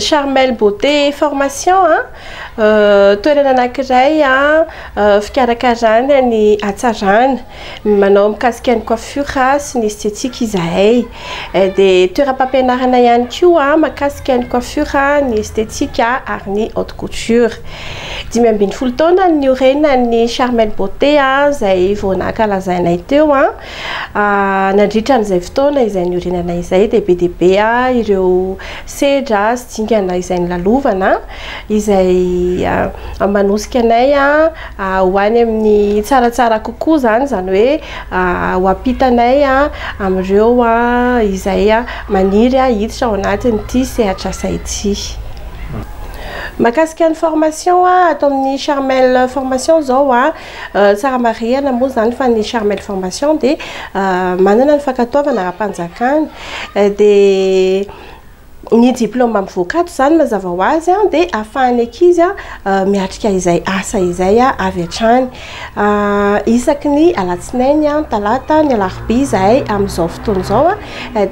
Charmel Beauté et Formation a, toerana anankiray fikarakarana ny hatsarana, manao mikasika ny coiffure sy ny esthétique izahay. Dia toeram-pampianarana ihany koa mahakasika ny coiffure, ny esthétique ary ny haute couture. Dimy ambin'ny folo taona no niorenan'ny Charmel Beauté izay vao nankalazainay teo. Nandritra an'izay fotoana izay niorenana izay dia be dia be ireo sedra sy dingana izay nilalovana izay manosika anay ho any amin'ny tsaratsara kokoa izany, izany hoe ho ampitanay amin'ireo izay maniry hiditra ao anatin'ity sehatr'asa ity. Mahakasika ny formation ato amin'ny Charmel formation izao Tsara marihana moa izany fa ny Charmel Formation dia manana ny fankatoavana ara-panjakana. Dia ny diplaoma mivoaka ato izany mazava ho azy dia ahafahan'ny ankizy miatrika izay asa izay avy hatrany. Isaky ny alatsinainy, ny talata, ny alarobia izahay amin'izao fotoana izao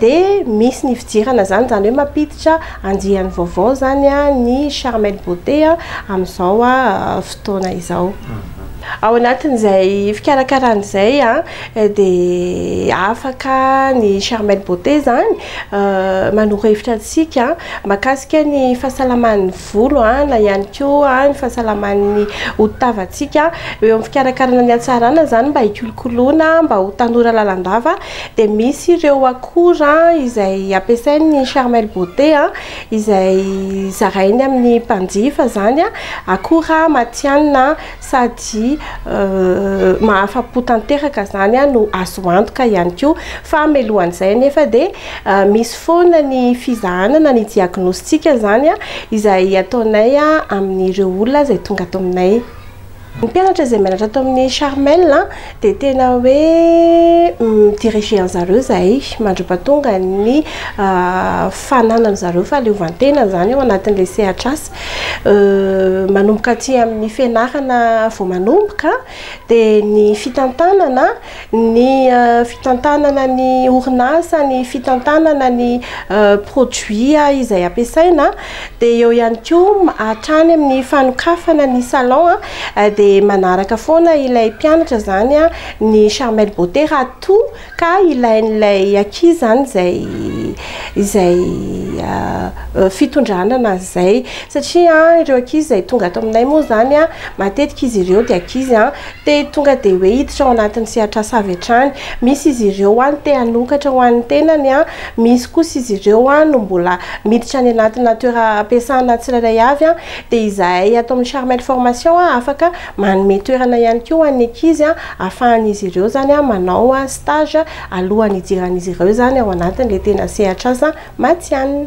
dia misy ny fidirana izany, izany hoe mampiditra Andiany vaovao zany ny Charmel Beauté amin'izao fotoana izao. Ao anatin'izay fikarakarana izay dia afaka ny Charmel Beauté zany manoro hevitra antsika mahakasika ny fahasalaman'ny volo na ihany koa ny fahasalaman'ny hodi-tavantsika. Eo amin'ny fikarakarana ny hatsarana izany mba hikolokoloina mba ho tanora lalandava Dia misy ireo akora izay ampiasain'ny Charmel Beauté, izay zarainy amin'ny mpanjifa izany, akora matihanina sady mahafa-po tanteraka izany no azo antoka ihany koa. Fa mialohan'izay anefa dia misy foana ny fizahana na ny diagnostic izany izay ataonay amin'ireo olona izay tonga ato aminay. Ny mpianatra izay mianatra ato amin'ny Charmel dia tena hoe mi-diriger an-dry zareo izahay mandra-pahatonga ny fananany zareo fahaleovan-tena izany ao anatin'ilay sehatr'asa. Manomboka aty amin'ny fianarana vao manomboka dia ny fitantanana Ny fitantanana ny orinasa, ny fitantanana ny produits izay ampiasaina, dia eo ihany koa hatrany amin'ny fanokafana ny salon dia manaraka foana ilay mpianatra izany ny Charmel Beauté raha toa ka ilain'ilay ankizy izany izay izay fitondrana anazy izay satria ireo ankizy izay tonga ato aminay moa izany matetika izy ireo dia ankizy Te tonga dia hoe hiditra ao anatin'ny sehatr'asa avy hatrany. Misy izy ireo no te hanokatra ho an'ny tenany, misy kosa izy ireo no mbola miditra any anatina toeram-piasana tsirairay avy. Dia izahay ato amin'ny Charmel Formation afaka manome toerana ihany koa ho an'ny ankizy ahafahan'izy ireo izany manao stage alohan'ny hidiran'izy ireo izany ao anatin'ilay tena sehatr'asa matihanina.